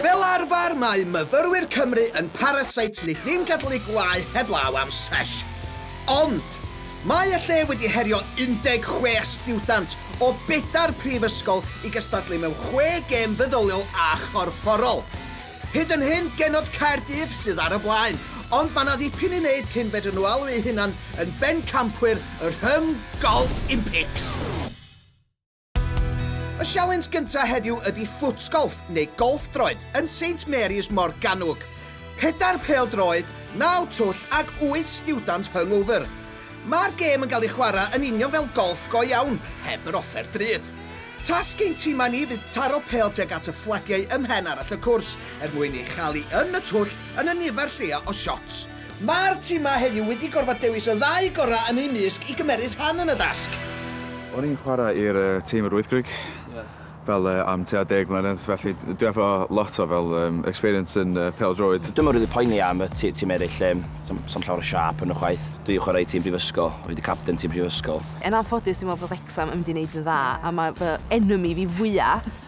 Fel arfer, mae myfyrwyr Cymru yn parasite ni ddim gadelu gwlâu heblaw am sesh. Ond, mae y lle wedi herio 16 stiwdant o bedair prifysgol i gystadlu mewn chwe gêm feddyliol a chorfforol. Hyd yn hyn, genod Caerdydd sydd ar y blaen, ond mae 'na ddipyn i wneud cyn fedryn nhw alw eu hunan yn bencampwyr y Rhyng Golf Impics. Y sialens gyntaf heddiw ydy ffwtsgolff neu golff droed yn Saint Mary's Morgannwg. Pedair pêl-droed, naw twll ac wyth stiwdant hungover. Mae'r gêm yn cael ei chwarae yn union fel golff go iawn, heb yr offer drud. Tasg ein timau ni fydd taro pêl tuag at y fflagiau ym mhen arall y cwrs er mwyn ei chael hi yn y twll yn y nifer lleia o siots. Mae'r timau heddiw wedi gorfod dewis y ddau gorau yn eu mysg i gymeryd rhan yn y dasg. O'n i'n chwarae i'r tîm yr wythgrig fel am tua deg mlynedd felly dwi efo lot o fel experience yn pêl-droed. Dwi'm yn rili poeni am y tîm eraill, sa'm llawer o siâp yn nhw chwaith. Dwi 'di chwarae i tîm prifysgol, o'n i 'di capten tîm prifysgol. Yn anffodus dwi'n meddwl bod Wrecsam yn mynd i 'neud yn dda a mae fy enemy fi fwya'.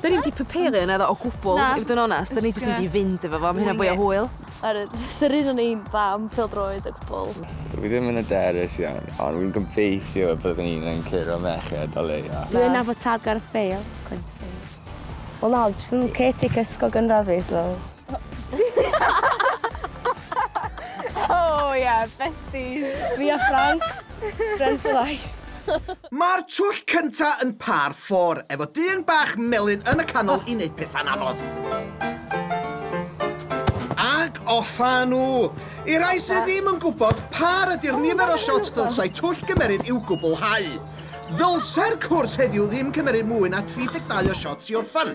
Da ni'm 'di prepario un o gwbwl i fod yn onest, da ni jyst yn mynd i fynd efo fo am hynna fwy o hwyl. Yr sy'r un o'n i'n dda am pêl-droed o gwbwl. Dwi ddim yn hyderus iawn, ond wi'n gobeithio y byddwn i'n yn curo merched o leia. Dwi yn nabod tad Gareth Bale, cweit Bale. Wel na, jyst yn caretaker ysgol gynradd fi so. Oh yeah, besties. Fi a Frank, friends for life. Mae'r twll cynta yn par ffôr, efo dyn bach melyn yn y canol i wneud pethau'n anodd. Ac offa nhw! I rai sydd ddim yn gwybod pa ydy'r nifer o shots ddylsai twll gymeryd i'w gwblhau. Ddylsai'r cwrs heddiw ddim cymeryd mwy na 32 o shots i orffen.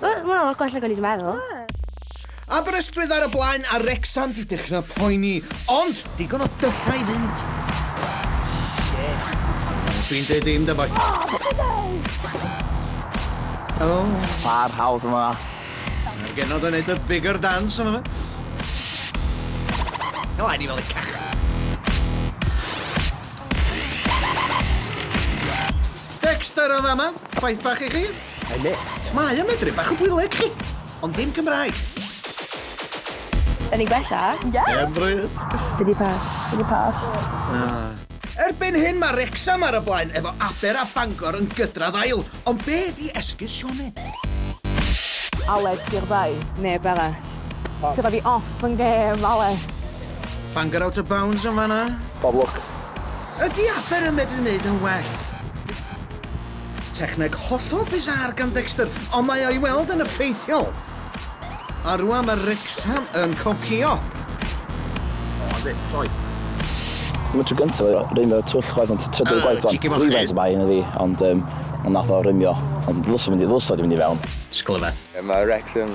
Wel, mae'n lot gwell nag o'n i wedi meddwl. Aberystwyth ar y blaen a Wrecsam di dechrau poeni, ond digon o dyllau i fynd. Dwi'n dweud dim, da boi. Oh. Pa'r hawdd yma. Mae'r genod yn neud y bigger dance yma. Helo, ni fel y cach. Dexter o fama, ffaith bach i chi. I missed. Mae o'n medru bach o bwyleg chi! Ond dim Cymraeg. Yn ei gwella? Ie! Ie bryd! Be di peth? Be di peth? Na. Erbyn hyn mae Wrecsam ar y blaen efo Aber a Bangor yn gydradd ail, ond be di esgus Sioned? Aled, di'r ddau. Neb arall. Ti rhoi fi off yn gêm, Aled. Bangor out of bounds yn fanna. Bob lwc. Ydi Aber yn medru neud yn well? Techneg hollol bizarre gan Dexter, ond mae o'i weld yn effeithiol. A rwan mae Wrexham yn copïo. O, yndi, troi. Dim y tro gyntaf i rymio twll chwaith, ond trydydd uh, gwaith fan. Rhywfaint y bai yn y fi, ond um, ond nath o rymio. Ond ddylsa mynd i ddylsa di mynd i fewn. Sglyfedd. Mae Wrexham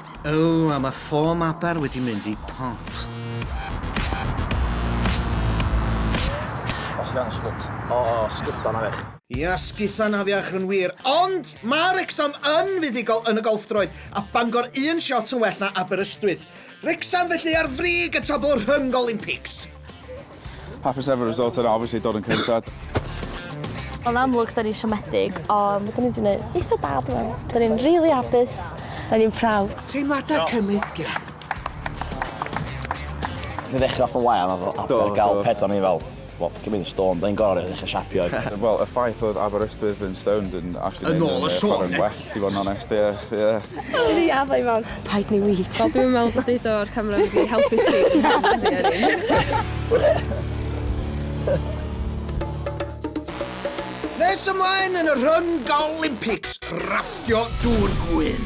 Ww, a mae ffom aber wedi mynd i pont. Os iawn, sgwt. O, sguthan afiach. Ia, sguthan afiach yn wir. Ond mae Wrecsam yn fuddugol yn y golfdroed, a Bangor un siot yn well na Aberystwyth. Wrecsam felly ar frig y tabl rhyng Olympics. Hapus efo'r result yna obviously dod yn cynta. Yn amlwg 'da ni siomedig ond 'da ni 'di neud eitha da dwi me'wl. 'Da ni'n rili hapus. 'Da ni'n proud. Teimlada cymysg ia? Nes i ddechra off yn wael a fel arfer ga'l pedwar o'n i fel wel paid cymyd yn stone 'dan ni'n gorod ddechra siapio. Wel y ffaith oedd Aberystwyth yn stoned yn actually neud y chwarae'n well. Alli fod yn onest, ie, ie. Dwi addo i mam. Paid ni wît. Wel, dwi'n meddwl bod deud o'r camera wedi helpu chi. Nes ymlaen yn y rhwng Olympics, raffio dŵr gwyn.